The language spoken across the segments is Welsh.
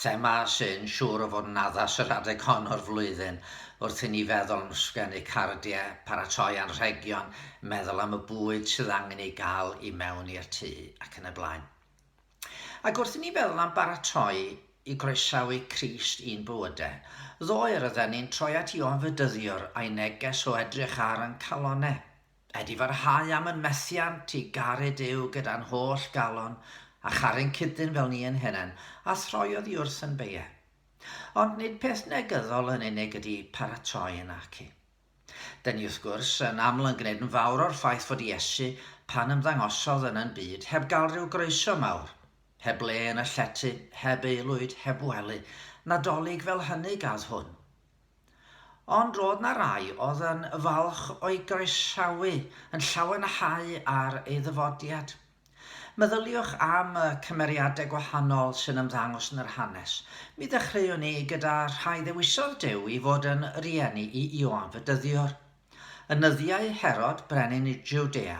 Thema sy'n siŵr o fod yn addas yr adeg hon o'r flwyddyn wrth i ni feddwl am ysgrifennu cardiau, paratoi anrhegion, meddwl am y bwyd sydd angen ei gael i mewn i'r tŷ ac yn y blaen. Ac wrth i ni feddwl am baratoi i groesawu Crist i'n bywydau, ddoe rydden ni'n troi at Ioan Fedyddiwr a'i neges o edrych ar ein calonnau. Ydy farhau am yn methiant i garu Duw gyda'n holl galon, a charu'n cydyn fel ni yn hunen, a throi oddi wrth yn beie. Ond nid peth negyddol yn unig ydy paratoi yn naci. Dŷn ni wrth gwrs yn aml yn gwneud yn fawr o'r ffaith fod Iesu, pan ymddangosodd yn yn byd, heb gael rhyw groeso mawr, heb le yn y llety, heb aelwyd, heb wely, Nadolig fel hynny gadd hwn. Ond roedd 'na rai oedd yn falch o'i groesawu yn llawenhau ar ei ddyfodiad. Meddyliwch am y cymeriadau gwahanol sy'n ymddangos yn yr hanes. Mi ddechreuwn i gyda rhai ddewisodd Duw i fod yn rieni i Ioan fy dyddiwr. Yn nyddiau Herod, brenin i Jwdea,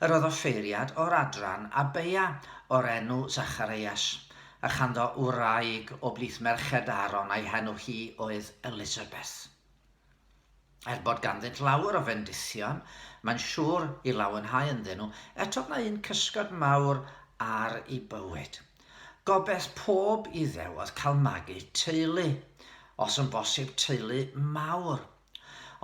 yr oedd offeiriad o'r adran Abeia o'r enw Zachareias, a chanddo wraig o blith merched Aaron a'i henw hi oedd Elisabeth. Er bod ganddynt lawer o fendithion, mae'n siŵr i lawenhau ynddyn nhw, eto mae un cysgod mawr ar i bywyd. Gobeth pob Iddew oedd cael magu teulu, os yn bosib teulu mawr,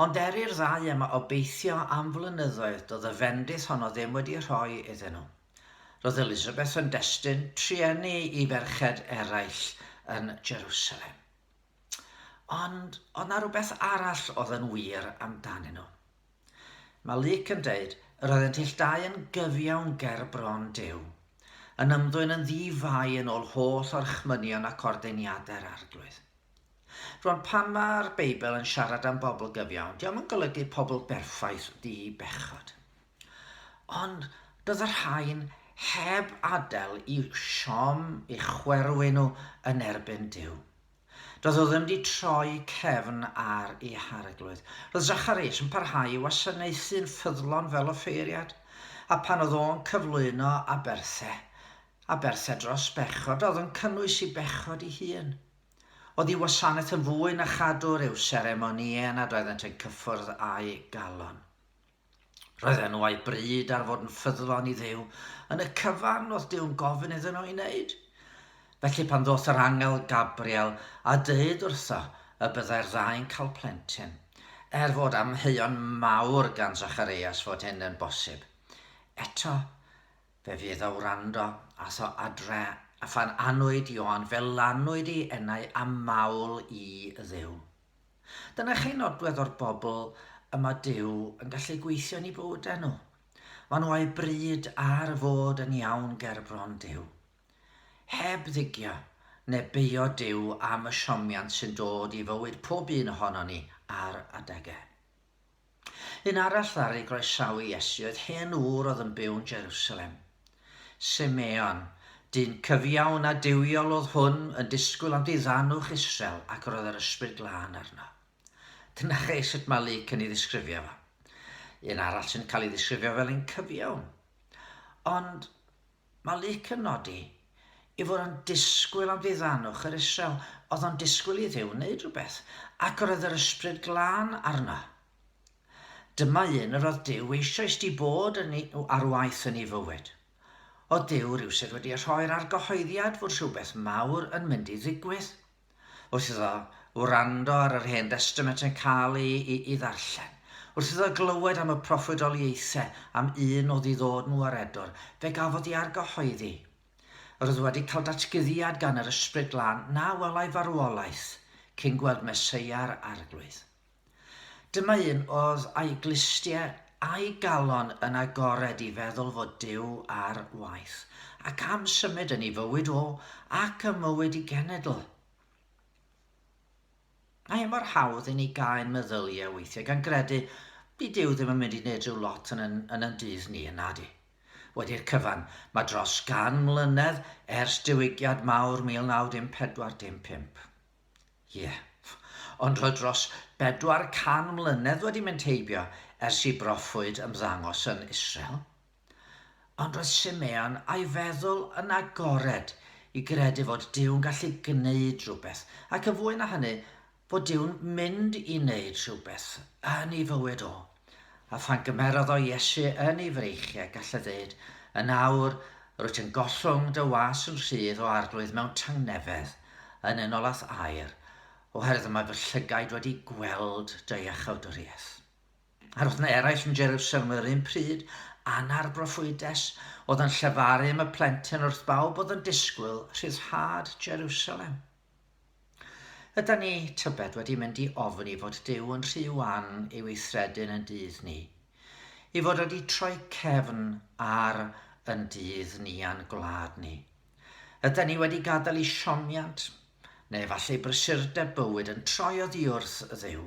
Ond er i'r ddau yma obeithio am flynyddoedd doedd y fendith honno ddim wedi rhoi iddyn nhw. Roedd Elizabeth yn destun trueni i ferched eraill yn Jerusalem. Ond oedd na rhywbeth arall oedd yn wir amdanyn nhw. Mae Luc yn dweud, yr oeddent ill dau yn gyfiawn ger bron Duw, yn ymddwyn yn ddi-fai yn ôl holl orchmynion ac ordeiniadau'r Arglwydd. Rwan pan ma'r Beibl yn siarad am bobl gyfiawn, diom yn golygu pobl berffaith ddi bechod. Ond bydd y rhain heb adael i siom i chwerwyn nhw yn erbyn Duw. Doedd o ddim di troi cefn ar i hareglwydd. Roedd Zacharias yn parhau i wasanaethu'n ffyddlon fel offeiriad, a pan oedd o'n cyflwyno aberthe, aberthe dros bechod, oedd yn cynnwys i bechod i hun. Oddi wasanaeth yn fwy na chadwr i'w seremonïau nad oeddent yn cyffwrdd â'i galon. Roedd enw a'i bryd ar fod yn ffyddlon i Dduw yn y cyfan oedd Duw'n gofyn iddyn nhw ei wneud. Felly pan ddoth yr angel Gabriel a dweud wrtho y byddai'r ddau'n cael plentyn, er fod amheuon mawr gan Zacharias fod hyn yn bosib, eto Fe fydd a wrando ath o adre a phan anwyd Ioan fe lanwyd i enau a mawl i Dduw. Dyna chi nodwedd o'r bobl y mae Duw yn gallu gweithio yn i bywydau nhw. Mae nhw a'u bryd ar fod yn iawn ger bron Duw. Heb ddigio neu beio Duw am y siomiant sy'n dod i fywyd pob un ohono ni ar adegau. Un arall ddaru groesawu Iesu oedd hen ŵr oedd yn byw'n Jerusalem. Simeon, dyn cyfiawn a duwiol oedd hwn, yn disgwyl am diddanwch Israel ac roedd yr Ysbryd Glân arno. Dyna chi sut mae Luc yn ei ddisgrifio fo. Un arall sy'n cael ei ddisgrifio fel un cyfiawn. Ond Mae Luc yn nodi ei fod yn disgwyl am ddiddannwch yr Israel, oedd o'n disgwyl i Dduw wneud rhywbeth, ac yr oedd yr Ysbryd Glân arno. Dyma un yr oedd Duw eisoes di bod yn ei, ar waith yn ei fywyd. Oedd Duw rhywsut wedi rhoi'r argyhoeddiad fod rhywbeth mawr yn mynd i ddigwydd. Wrth iddo wrando ar yr Hen Destament yn cael ei, ei, ei ddarllen, wrth iddo glywed am y proffwydoliaethau am un o ddiddod nhw ar Edwr, fe gafodd ei argyhoeddi. Yr oedd wedi cael datguddiad gan yr Ysbryd Glân na welai farwolaeth cyn gweld Meseia yr Arglwydd. Dyma un oedd a'i glustiau a'i galon yn agored i feddwl fod Duw ar waith, ac am symud yn ei fywyd o, ac ym mywyd ei genedl. Mae e mor hawdd i ni gau ein meddyliau weithiau gan gredu di Duw ddim yn mynd i wneud rhyw lot yn yn, yn yn dydd ni, yna di. Wedi'r cyfan, mae dros gan mlynedd ers diwygiad mawr 1914 dim pump. Ie. Ond roedd dros bedwar can mlynedd wedi mynd heibio ers i broffwyd ymddangos yn Israel. Ond roedd Simeon a'i feddwl yn agored i gredu fod Duw'n gallu gwneud rhywbeth, ac yn fwy na hynny, fod Duw'n mynd i wneud rhywbeth yn ei fywyd o. A phan gymerodd o Iesu yn ei freichiau, gall y ddyd, Yn awr, rwyt yn gollwng dy was yn rhydd o arglwydd mewn tangnefedd, yn unolaeth aer, oherwydd mae fy llygaid wedi gweld dy iachawdwriaeth. A'r oedd na eraill yn Jerusalem yr un pryd, Ana'r broffwydes, oedd yn llefaru am y plentyn wrth bawb oedd yn disgwyl rhyddhad Jerusalem. Ydan ni, tybed, wedi mynd i ofn i fod Duw yn rhy wan i weithredu'n yn dydd ni? I fod wedi troi cefn ar yn dydd ni a'n gwlad ni? Ydan ni wedi gadael i siomiant, neu efallai brysurdeb bywyd yn troi oddiwrth Dduw?